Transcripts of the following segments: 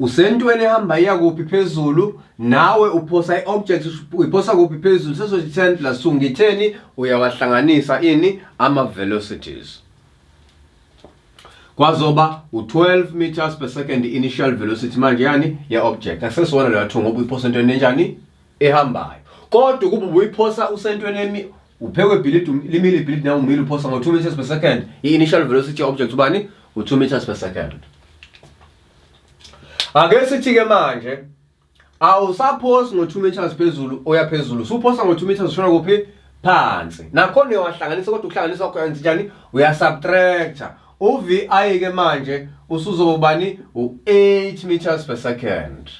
usentweni ehamba iya kuphi phezulu nawe uphosa i-object uyiphosa kuphi phezulu sezothi 10 plus 2 ngitheni uyawahlanganisa ini ama-velocities kwazoba u-12 meters per second initial velocity manje yani ye-object akusesiwona leyo athu ngoba uyiphosa entweni enjani ehambayo kodwa ukuba ubuyiphosa usentweni emi uphekwe ibhilidi um, limile ibhilidi nawe umile uphosa ngo-2 meters per second i-initial velocity object ubani u-2 meters per second ake sithi-ke manje awusaphosi ngo-2 meters phezulu oya phezulu suphosa ngo-2 meters ushona kuphi phansi nakhona uyawahlanganisa kodwa ukuhlanganisa wakho yenza njani uyasubtractor uvi ke manje usuzobani u-8 meters per second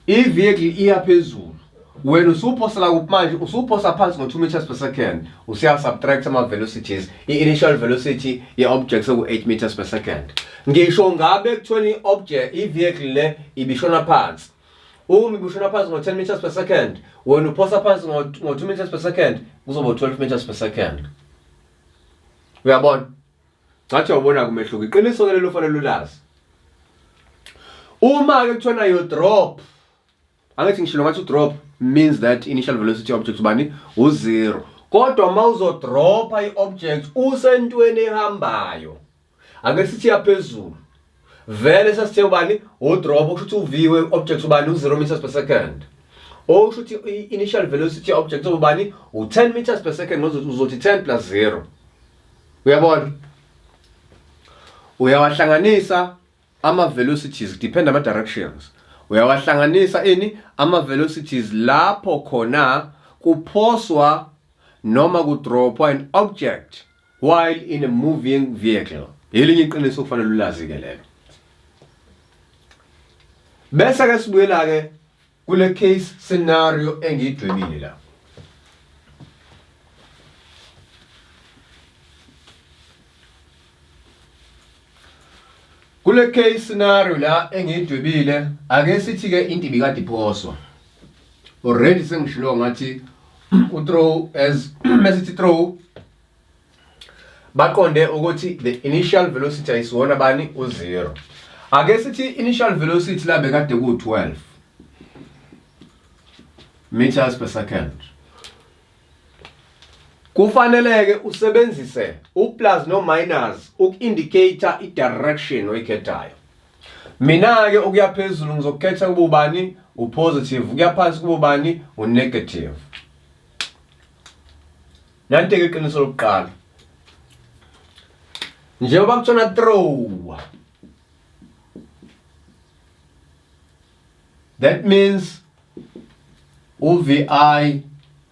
i-vehicle iya phezulu wena usuphosa la kuphi manje usuphosa phansi ngo-2 meters per second usuya-subtract ama-velocities i-initial velocity ye-object seku-8 meters per second ngisho ngabe ekuthiweni i-object i-vehicle le ibishona phansi uma ibishona phansi ngo-10 meters per second wena uphosa phansi ngo-2 meters per second kuzoba 12 meters per second uyabona Cathi wabona kumehluko iqiniso ke lelo fanele ulazi. Uma ke kuthiwa yo drop angithi ngishilo ngathi drop means that initial velocity object ubani u zero kodwa uma uzodropha i-object usentweni ehambayo ake sithi yaphezulu vele sasithe ubani udrop okusho ukuthi uviwe object ubani u0 meters per second okusho ukuthi i-initial velocity object ubani u10 meters per second uzothi 10 plus 0 uyabona uyawahlanganisa ama velocities depend ama directions uyawahlanganisa ini ama velocities lapho khona kuphoswa noma kudropwa an object while in a moving vehicle yelinye iqiniso kufanele ulazi ke lelo bese ke sibuyela ke kule case scenario engidwebile la Kule case scenario la engiyidwebile ake sithi ke into ibikade iphoswa. Already sengishilo ngathi u throw as mesithi throw baqonde ukuthi the initial velocity ayisiwona bani u zero. Ake sithi initial velocity la bekade ku 12 meters per second. Kufaneleke usebenzise uplus no minus uku-indicator i-direction oyikhethayo. Mina-ke okuya phezulu ngizokukhetha kube ubani upositive, kuya phansi kube ubani unegative. Nantike iqiniso lokuqala. Njengoba kuthiwa throw that means uvi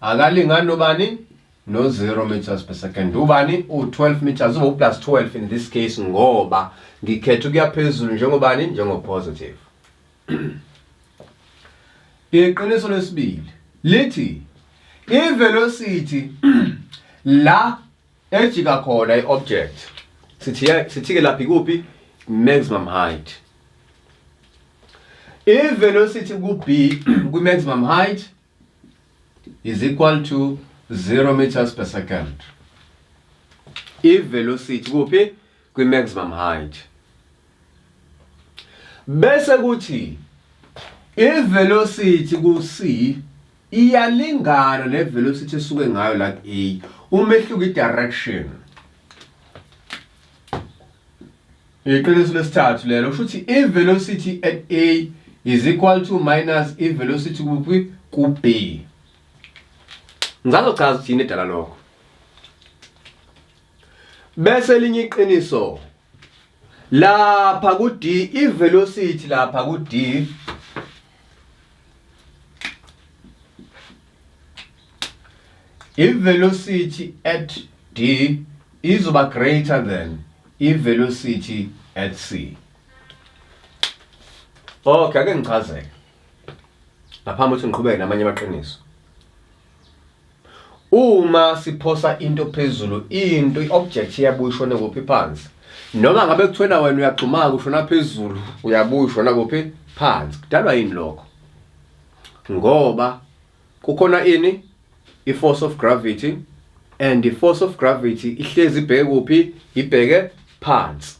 akalingani nobani no 0 meters per second ubani u-12 meters ubo plus 12 in this case ngoba ngikhetha ukuya phezulu njengobani njengopositive iqiniso lesibili lithi ivelocity la Ejika khona i-object. Sithi sithike laphi kuphi? Maximum height. I-velocity ku-B kwi-maximum height is equal to 0 meters per second. I-velocity kuphi? Kwi-maximum height. Bese kuthi i-velocity ku-C iyalingana ne velocity esuke ngayo la ku A umehluko i direction iqiniso lesithathu lelo kusho ukuthi i velocity at A is equal to minus i velocity kuphi ku B ngizazochaza ukuthi yini edala lokho bese linye iqiniso lapha ku D i velocity lapha ku D i velocity at D izoba greater than i velocity at C okay ake ngichazeke ngaphambi ukuthi ngiqhubeke namanye amaqiniso Uma siphosa into phezulu, into i-object iyabuya ishone kuphi phansi. Noma ngabe kuthiwena wena uyagxumaka ushona phezulu, uyabuya ushona kuphi phansi. Kudalwa yini lokho? Ngoba kukhona ini? I-force of gravity and i-force of gravity ihlezi ibheke kuphi? Ibheke phansi.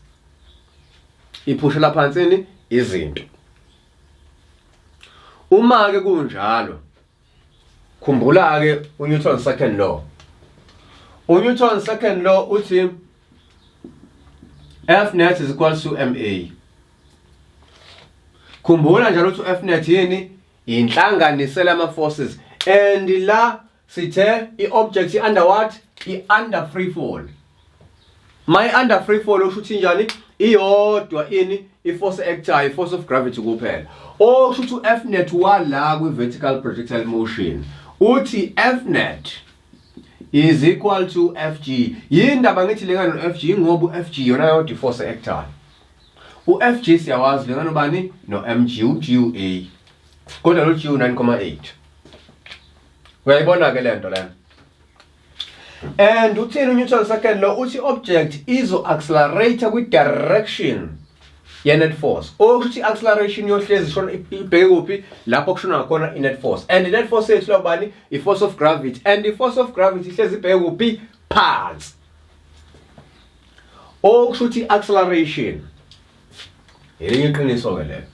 Iphushela phansi ini? Izinto. Uma-ke kunjalo, khumbula ke uNewton second law uNewton second law uthi F net is equal to MA khumbula njalo ukuthi uF net yini inhlanganisela ama forces and la sithe i object i under what i under free fall My under free fall usho ukuthi njani iyodwa ini iforce actayo force of gravity kuphela osho ukuthi u-f net wala kwi-vertical projectile motion uthi f net is equal to f g yindaba ngithi lengane no-f g ngoba u-f g yona yodwa iforce actayo u-f g siyawazi lengane ubani no-m g u-g u-a kodwa lo g u-9,8 uyayibona-ke le nto lena And uthini uNewton second law uthi object izo accelerate kwi direction ye net force. Okuthi acceleration yohlezi shona ibheke kuphi lapho kushona khona i net force. And i net force yethu lobani i force of gravity and i force of gravity ihlezi ibheke kuphi phansi. Okusho ukuthi acceleration elinye iqiniso ke lelo.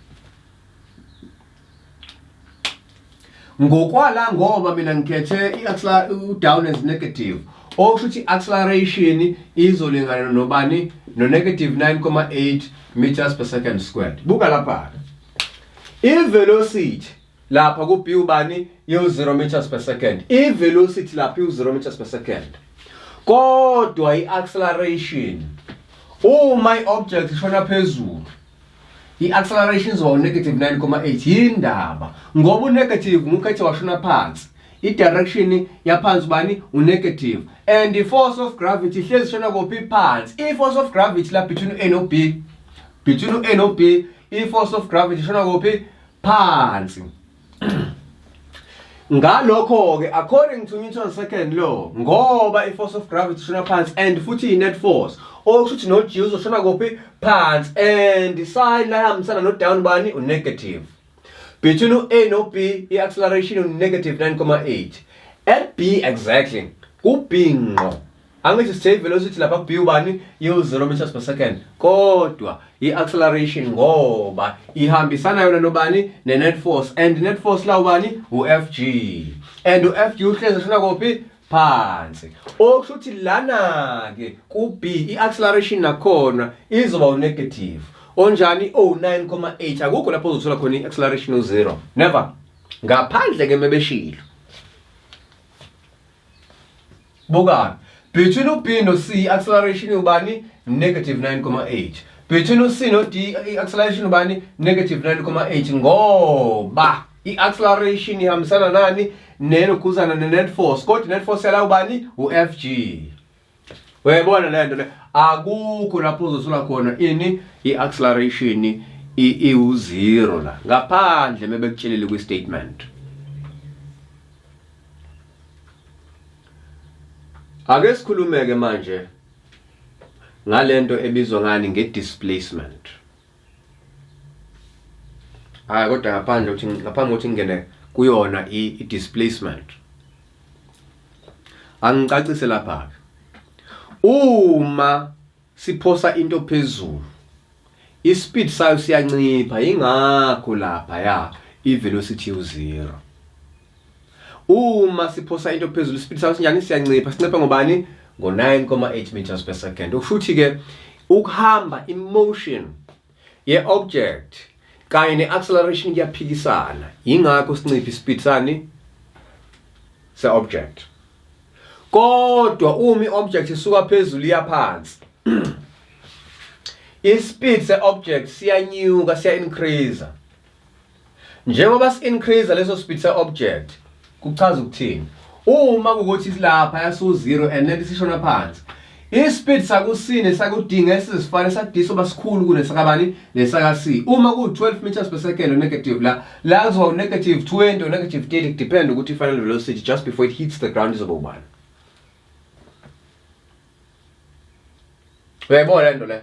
ngokwala ngoba mina ngikhethe i-down as negative okusho ukuthi acceleration izolingana nobani no-negative 9,8 meters per second squared buka lapha-ke i-velocity lapha ku-b ubani iwu-0 meters per second i-velocity lapha iwu-0 meters per second kodwa i-acceleration uma i-object ishona phezulu I-acceleration izoba u-negative 9,8 yini ndaba ngoba u-negative ngukhethe washona phansi i-direction yaphansi bani u-negative and i-force of gravity hlezi shona kophi phansi i-force of gravity la between u-a no b between u-a no b i-force of gravity shona kophi phansi ngalokho-ke according to newton second law ngoba i-force of gravity ishona phansi and futhi yi-net force okusho ukuthi no-g uzoshona kuphi phansi and isayini layihambisana no-down bani unegative between u-a no-b i-acceleration unegative 9,8 at b exactly kubhinqo angithi sithe i-velocity lapha ku-b ubani yiwu-zero meters per second kodwa i-acceleration ngoba ihambisana yona nobani ne-net force and net force la ubani u-f g and u-f g uhlezi shona kophi phansi okusho ukuthi lana-ke ku-b i-acceleration nakhona izoba unegative onjani o-9,8 akukho lapho uzothola khona i-acceleration u-zero never ngaphandle-ke mebeshilo Bukani. Between u B no C acceleration ubani negative 9,8. Between u C no D acceleration ubani negative 9,8 ngoba i acceleration ihambisana nani nenokuzana ne net force kodwa net force yala ubani u FG. Uyayibona lento le akukho lapho uzosula khona ini i-acceleration iwu-zero la ngaphandle mebekutshelile kwi-statement ake sikhulumeke manje ngalento ebizwa ngani nge-displacement hayi kodwa ngaphandle ukuthi ngaphambi kokuthi ngingene kuyona i-displacement angicacise lapha-ke uma siphosa into phezulu ispeed sayo siyancipha ingakho lapha ya ivelocity u0 Uma siphosa into phezulu ispeed sayo sinjani siyancipha sincipha ngobani ngo 9.8 meters per second ukushuthi ke ukuhamba emotion ye object kanye ne acceleration kuyaphikisana ingakho sincipha ispeed sani se object kodwa uma iobject isuka phezulu iya phansi ispeed se object siyanyuka siya increase Njengoba si-increase leso speed se-object kuchaza ukuthini? Uma kukuthi silapha yasiwu-zero and lento isishona phansi ispeed sakusini saku-d ngeke sizifane sa-d soba sikhulu kunesakabani nesaka-c uma kuwu-12 meters per second onegative la la kuzoba unegative 20 onegative 30 kudepend ukuthi i-final velocity just before it hits the ground izoba ubani uyayibona le nto leyo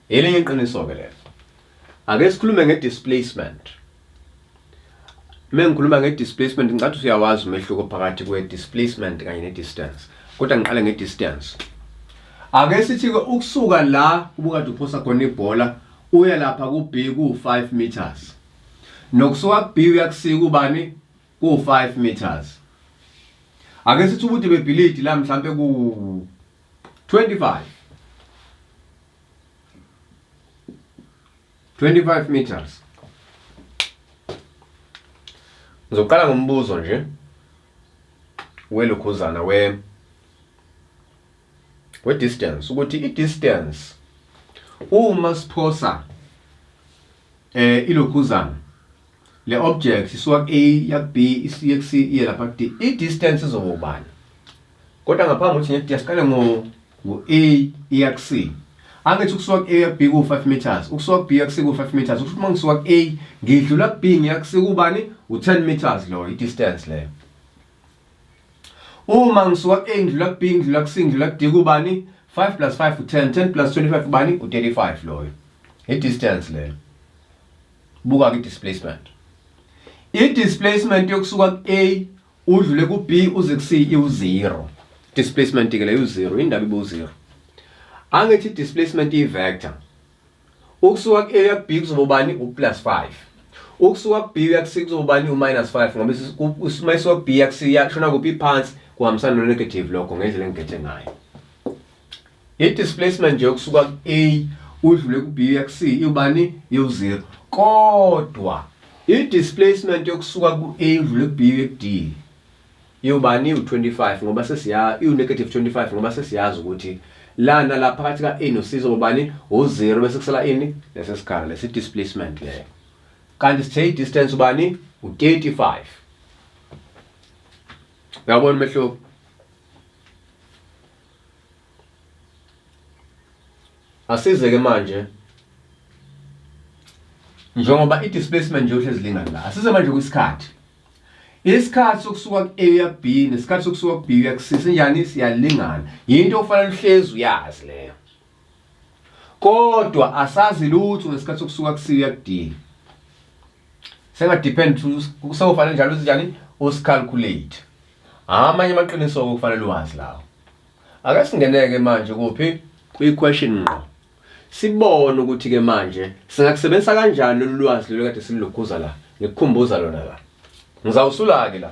Elinye iqiniso-ke lelo. Ake sikhulume nge-displacement. Uma ngikhuluma nge-displacement ngicathi usuyawazi umehluko phakathi kwe-displacement kanye ne-distance. Kodwa ngiqale nge-distance. Ake sithi-ke ukusuka la ubukade uphosa khona ibhola uye lapha ku-B ku-5 meters. Nokusuka ku-B uya ku-C kubani? Ku-5 meters. Ake sithi ubude bebhilidi la mhlampe ku 25 25 meters Ngizoqala ngombuzo nje welukhuzana we we distance ukuthi i distance uma siphosa eh ilokhuzana Le object isuka ku A ya ku B isiye ku C iye lapha ku D. I distance izoba ubani? Kodwa ngaphambi kokuthi ngithi asiqale ngo ngo A iya ku C. Angithi ukusuka ku A ya ku B ku 5 meters, ukusuka ku B ya ku C ku 5 meters. Ukuthi uma ngisuka ku A ngidlula ku B ngiya ku C kubani? U 10 meters lo i distance leyo. Uma ngisuka ku A ngidlula ku B ngidlula ku C ngidlula ku D kubani? 5 plus 5 u 10, 10 plus 25 ubani? U 35 loyo. I distance leyo. Buka ke displacement. I displacement yokusuka ku A udlule ku B uze ku C iwu 0. Displacement ke leyo 0 indaba ibu 0. Angithi displacement i vector. Ukusuka ku A ya B kuzoba ubani u plus 5. Ukusuka ku B ya ku C kuzoba ubani u minus 5 ngoba isisuka ku B ya ku C ya shona kuphi phansi kuhambisana no negative lokho ngendlela engigethe ngayo. I displacement nje ukusuka ku A udlule ku B uya ku C iwubani iwu0 kodwa i displacement yokusuka ku A udlule ku B uye ku D iwubani iwu25 ngoba sesiya iwu negative 25 ngoba sesiyazi ukuthi lana la phakathi ka A no C zobani u0 bese kusala ini lesesikhala lesi displacement leyo kanti sithe i distance ubani u35 uyabona umehluko Asize ke manje njengoba i-displacement nje uhlezi lingani la asize manje kwisikhathi isikhathi sokusuka ku-a uya ku-b nesikhathi sokusuka ku-b uya ku-c sinjani siyalingana yinto okufanele uhlezi uyazi leyo kodwa asazi lutho ngesikhathi sokusuka ku-c uya ku-d senga depend kusofanele njalo uzinjani usicalculate amanye amaqiniso okufanele uwazi lawo ake singeneke manje kuphi kwi question ngqo sibone ukuthi ke manje singakusebenzisa kanjani lolu lwazi lolu kade silukhuza la ngikukhumbuza lona la ngizawusula ke la